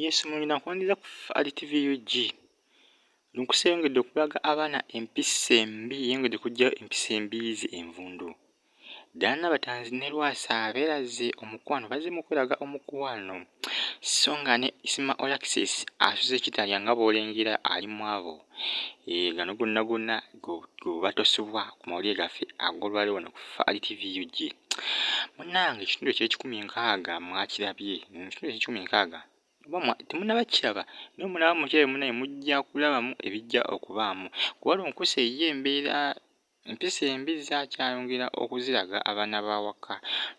Yesu mulina kwandiza ku Ali TV UG. Lunkusi eyongedde okulaga abaana empisa embi yeyongedde okujjayo empisa embiizi envundu ddaana batanzi ne lwasa beeraze omukwano bazze mu kweraga omukwano so nga ne isima olaxis asuze kitalya nga bw'olengera ali mu abo e, gano gonna gonna gwebatosebwa ku mawulire gaffe agolwale wano ku faali tv ug munange ekitundu ekyekikumi nkaaga mwakirabye ekitundu ekyekikumi nkaaga temunaba kiraba naye mulaba mukyere munaye mujja kulabamu ebijja okubaamu kuba lunkusa eyiyo embeera empisa embi zakyayongera okuziraga abaana bawaka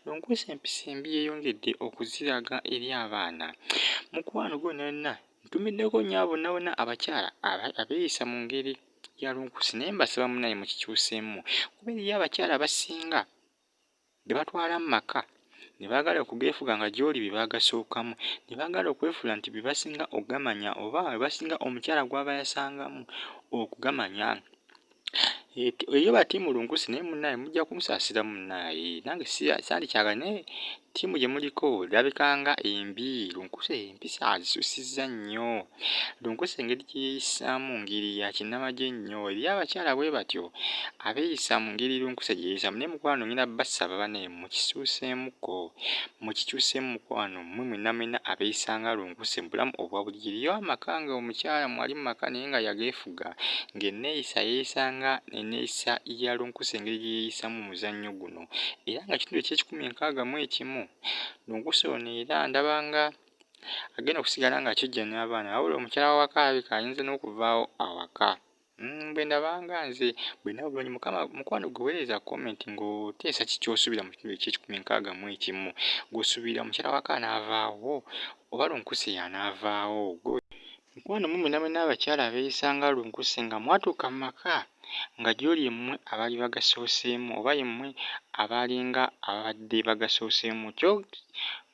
lunkusa empisa embi yeyongedde okuziraga eri abaana mukwano gwo nonna ntumiddeko nyabo nawona abakyala abeeyisa mu ngeri yalunkusi naye mbasaba munaye mukikyuseemu kuba eriyo abakyala abasinga bebatwala mu maka ne baagala okugeefuga nga gy'oli bye baagasookamu ne baagala okwefuula nti bye basinga okugamanya oba bye basinga omukyala gw'aba yasangamu okugamanya eyo batiimulunkusi naye munaaye mujja kunsaasira munaaye nange saali kyagala naye Ttiimu gye muliko erabika nga embi. Lunkuse empisa azisusizza nnyo. Lunkuse engeri gye yeeyisaamu ngeri ya kinnamagye nnyo. Eri abakyala bwe batyo abeeyisa mu ngeri lunkuse gye yeeyisaamu. Naye mukwano ngenda basaba bane mukisuuseemuko, mukikyuseemu mukwano mmwe mwenna mwenna abeeyisa nga lunkuse mu bulamu obwa bulijjo. Eriyo amaka nga omukyala mwali mu maka naye nga yageefuga ng'enneeyisa yeeyisa nga enneeyisa ya lunkuse engeri gye yeeyisaamu mu muzannyo guno. era nga kitundu ekyekikumi enkaaga mu ekimu lunkusi ono era ndaba nga agenda okusigala nga kijja n'abaana wabula omukyala wawaka alabika ayinza n'okuvaawo awaka mm, bwe ndabanga nze bwena bulungi mukama mukwano gwe weereza comment ng'oteesa kikyosuubira mu kitundu ekyekikumi enkaaga mu ekimu gwosuubira omukyala waka anaavaawo oba lunkusi yanaavaawo Mukwano mwe mwena mwena abakyala abeyisa nga lunkuse nga mwatuuka mu maka nga gyoli ye mwe abaali bagasooseemu oba ye mwe abaalinga ababadde bagasooseemu kyo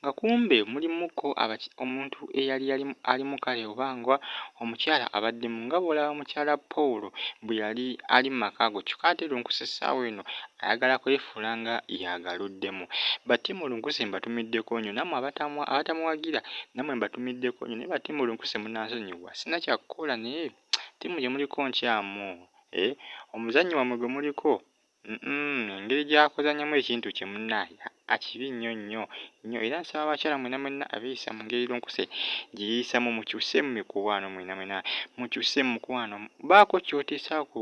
nga kumbe mulimu ko abaki omuntu eyali yali alimu kale oba nga omukyala abaddemu nga bw'olaba mukyala Paul bwe yali ali mu maka ago kyokka ate lunkuse essaawa eno ayagala kwefuula nga y'agaluddemu. Ba Team Lunkuse mbatumiddeko nnyo nammwe abatamuwagira nammwe mbatumiddeko nnyo naye ba Team Lunkuse munansonyiwa sirina kya kukola naye ttiimu gye muliko nkyamu eh, omuzannyi wammwe gwe muliko engeri gy'akuzannyamu ekintu kye munnaye akibi nnyo nnyo nnyo era nsaba abakyala mwena mwena abeeyisa mu ngeri Lunkuse gye yeeyisamu mukyuse mu mikwano mwena mwena mukyuse mu mukwano baako ky'oteesa ku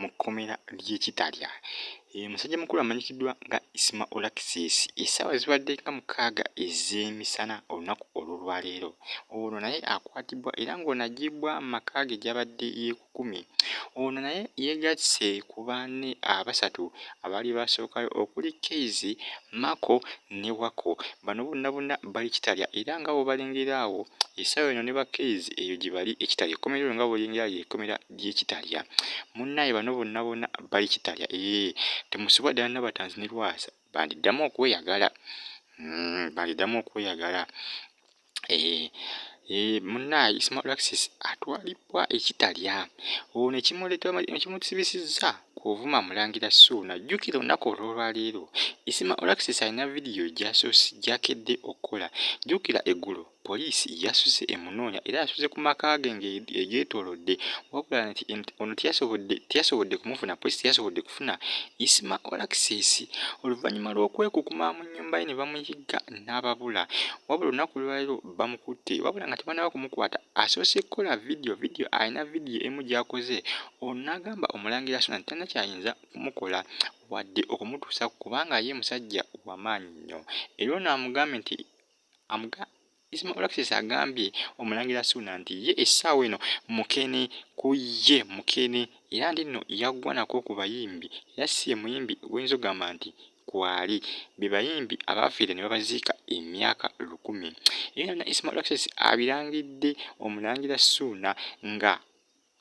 mu kkomera ly'e Kitalya. Eyo musajja mukulu amanyikiddwa nga Isma Olaxis essaawa zibadde nga mukaaga ez'emisana olunaku olw'olwaleero. Ono naye akwatibwa era ng'ono aggyibbwa mu maka ge gy'abadde yeekukumye. Ono naye yeegasse ku banne abasatu abaali baasookayo okuli Kayz, Mako ne Wako. Bano bonna bonna bali Kitalya era nga bw'obalengera awo essaawa eno ne ba Kayz eyo gye bali e Kitalya. Ekkomera eryo nga bw'olengera ly'ekkomera ye kitalya munnaye bano bonna bona bali kitalya ee eh, temusubwa ddala nabatanzi ne lwasa bandiddamu okweyagala hmm, bandiddamu okweyagala ee eh, ee eh, munnaye ismalaxis atwalibwa ekitalya olwo nekimuletenekimutisibisizza kuvuma mulangira suuna jjukira olunaku olwolwaleero ismalaxis alina vidiyo gyasosi gyakedde okukola jjukira eggulo Poliisi yasuze emunoonya era yasuze ku maka ge ng'egyetoolodde wabula nti ono teyasobodde teyasobodde kumufuna poliisi teyasobodde kufuna Isma Olaxis oluvannyuma lw'okwekukuma mu nnyumba ye ne bamuyigga n'ababula wabula olunaku lwaliro bamukutte wabula nga tebanaba kumukwata asoose kukola vidiyo vidiyo alina vidiyo emu gy'akoze ono n'agamba omulangira sona nti talina kyayinza kumukola wadde okumutuusa kubanga ye musajja wamaanyi nnyo era ono amugambye nti amuga Ismail Alexis agambye omulangira Suuna nti ye essaawa eno mukene ku ye mukene era nti nno yaggwa nako ku bayimbi era si ye muyimbi gwoyinza okugamba nti kwali be bayimbi abaafiira ne babaziika emyaka lukumi era na Ismail Alexis abirangidde omulangira Suuna nga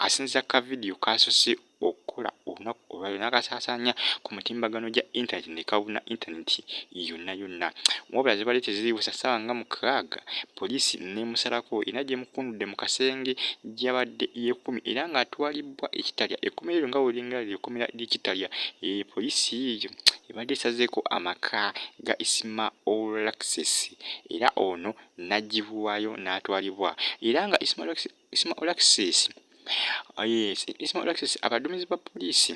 asinziza ku kavidiyo k'asoose okukola olunaku olwaliro n'akasaasaanya ku mutimbagano gya intaneti ne kabuna intaneti yonna yonna. Wabula zibadde teziiwesa ssaawa nga mukaaga, poliisi n'emusalako era gy'emukundudde mu kasenge gy'abadde yeekuumye era ng'atwalibbwa e Kitalya. Ekkomera eryo nga bw'olengera lye kkomera ly'e Kitalya, poliisi ebadde esazeeko amaka ga Isma Olaxes era ono n'aggyibwayo n'atwalibwa era nga Isma Olaxes Isma Olaxis ah, yes, Isma Olaxis abadumizi ba poliisi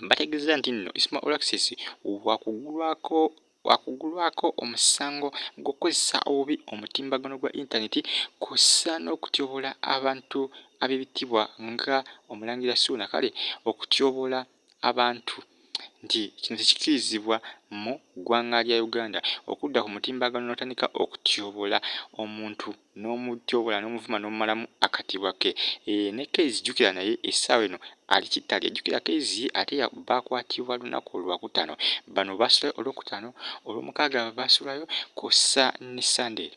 bategeeza nti nno Isma Olaxis wakugulwako wakugulwako omusango gw'okukozesa obubi omutimbagano gwa intaneti kw'ossa n'okutyobola abantu ab'ebitibwa nga omulangira suuna kale okutyobola abantu nti kino tekikirizibwa mu ggwanga lya Uganda okudda ku mutimbagano n'otandika okutyobola omuntu n'omutyobola n'omuvuma n'omumalamu akatibwa ke eh, ne Kezi jukira naye essaawa eno ali kitali ajjukira kezi ate bakwatibwa lunaku olwakutano bano basulayo olwokutano olwomukaaga basulayo kosa ne sunday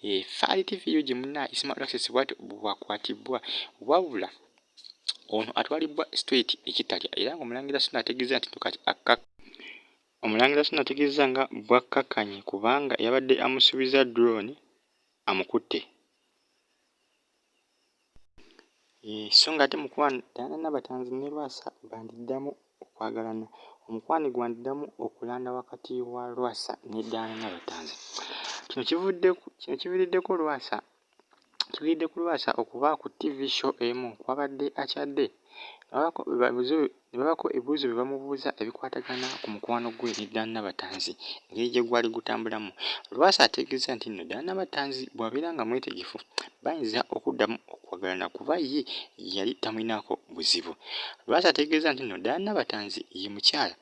Eh, faali tv ug muna isima access bwati bwakwatibwa wabula ono atwalibwa straight ekitalya era nga omulangira sina ategeza nti kati akka omulangira sina ategeza nga bwakkakanye kubanga yabadde amusuubiza drone amukutte eh, so nga ate mukwano tana nabatanzi ne lwasa bandiddamu okwagalana omukwano gwandiddamu okulanda wakati wa lwasa ne daana nabatanzi kino kivuddeko lwasa kiviridde ku lwasa okuba ku tv show emu kwabadde akyadde ababuzo Ne babaako ebibuuzo bye bamubuuza ebikwatagana ku mukwano gwe ne Dan Nabatanzi engeri gye gwali gutambulamu. Lwasa ategeezezza nti nno Dan Nabatanzi bw'abeera nga mwetegefu bayinza okuddamu okwagalana kuba ye yali tamulinaako buzibu. Lwasa ategeezezza nti nno Dan Nabatanzi ye mukyala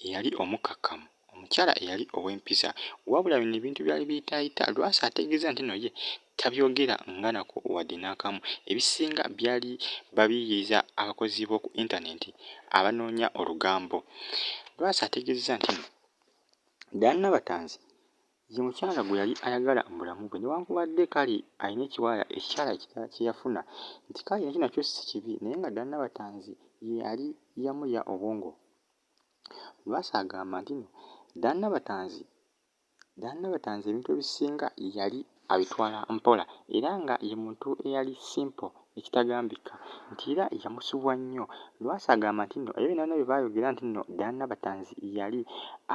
eyali omukkakkamu. omukyala eyali ow'empisa wabula bino ebintu byali biyitaayita lwasa ategeeza nti no ye tabyogera nga nako wadde n'akamu ebisinga byali babiyiiza abakozi b'oku intanenti abanoonya olugambo lwasa ategeeza nti no daana batanzi ye mukyala gwe yali ayagala mu bulamu bwe newankubadde kale alina ekiwala ekikyala ekirala kye yafuna nti kale nakyo nakyo si kibi naye nga daana batanzi ye yali yamuya obwongo Lwasa agamba nti no Dan Nabatanzi Dan Nabatanzi ebintu ebisinga yali abitwala mpola era nga ye muntu eyali simple ekitagambika nti era yamusubwa nnyo. Lwasa agamba nti no ebyo byonna byonna bye baayogera nti no Dan Nabatanzi yali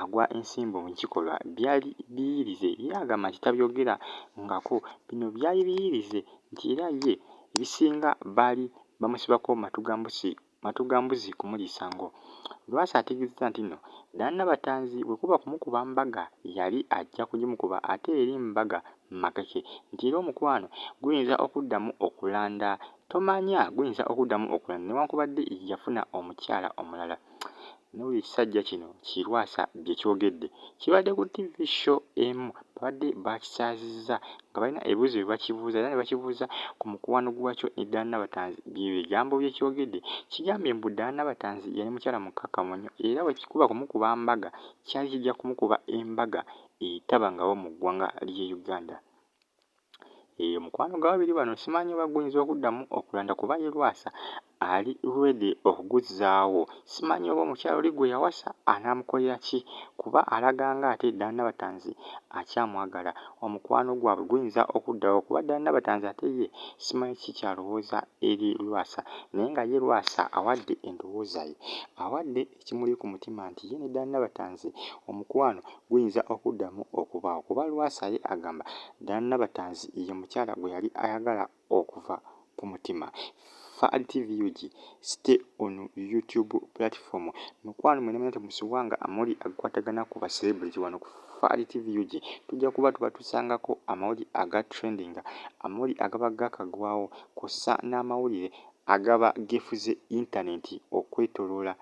agwa ensimbu mu kikolwa byali biiyirize. Ye agamba nti tabyogera ngako bino byali biiyirize nti era ye ebisinga baali bamusibako matu ga mbusi Matu ga mbuzi kumulisa ngo. Lwasa ategezezza nti no Dan Nabatanzi bwekuba kumukuba mbaga yali ajja kugimukuba ate eri mbaga makeke nti era omukwano guyinza okuddamu okulanda tomanya guyinza okuddamu okulanda newankubadde yafuna omukyala omulala N'olwo ekisajja kino ki Lwasa bye kyogedde kibadde ku TV show emu babadde baakisaazizza nga balina ebibuuzo bye bakibuuza era ne bakibuuza ku mukwano gwakyo ne Diana Nabatanzi bye bigambo bye kyogedde kigambye mbu Diana Nabatanzi yali mukyala mukkakkamu nnyo era bwe kikuba kumukuba mbaga kyali kijja kumukuba embaga etabangawo mu ggwanga ly'e Uganda. Eyo mukwano gwa babiri bano simanyi oba guyinza okuddamu okulanda kuba ye Lwasa ali ready okuguzzaawo. Simanyi oba omukyala oli gwe yawasa anaamukolera ki kuba alaga ng'ate ddala Nabatanzi akyamwagala. Omukwano gwabwe guyinza okuddawo kuba ddala Nabatanzi ate ye simanyi kiki ky'alowooza eri Lwasa naye nga ye Lwasa awadde endowooza ye, awadde. ekimuli ku mutima nti ye ne Dan Nabatanzi omukwano guyinza okuddamu okubaawo kuba Lwasa ye agamba Dan Nabatanzi ye mukyala gwe yali ayagala okuva ku mutima. Fahad TV UG, stay on YouTube platform. Mikwano mwena mwena temusiwanga amawulire agakwatagana ku ba celebrity wano ku Fahad TV UG. Tujja kuba tubatusangako amawulire aga trendinga, amawulire agaba gakagwawo, kw'ossa n'amawulire Agaba gifu ze intaneti okwetolola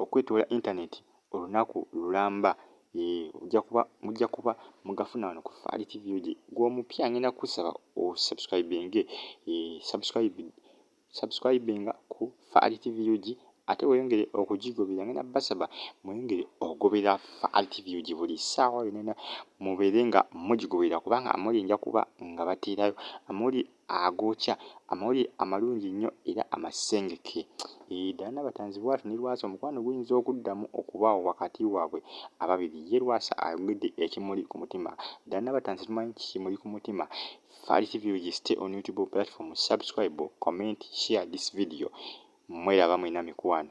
okwetolola internet olunaku lulamba ee ojja kuba mujja kuba mugafuna wano ku Faali TV oje gw'omupya ngenda kusaba osubscribinge ee subscribe subscribinga ku Faali TV oje ate weyongere okugigobera ngenda basaba mweyongere ogobera Faali TV oje buli ssaawa yonna mubeere nga mugigobera kubanga amawulire nja kuba nga bateerayo amawulire agookya amawulire amalungi nnyo era amasengeke. Eeh, ddala Nabatanzi bwatyo ne Lwasa omukwano guyinza okuddamu okubaawo wakati waabwe ababiri. Ye Lwasa ayogedde ekimuli ku mutima. Ddala Nabatanzi tumanyi ki kimuli ku mutima? Fally TV Ligi stay on YouTube platform subscribe, comment, share this video. Mweraba mwena mikwano.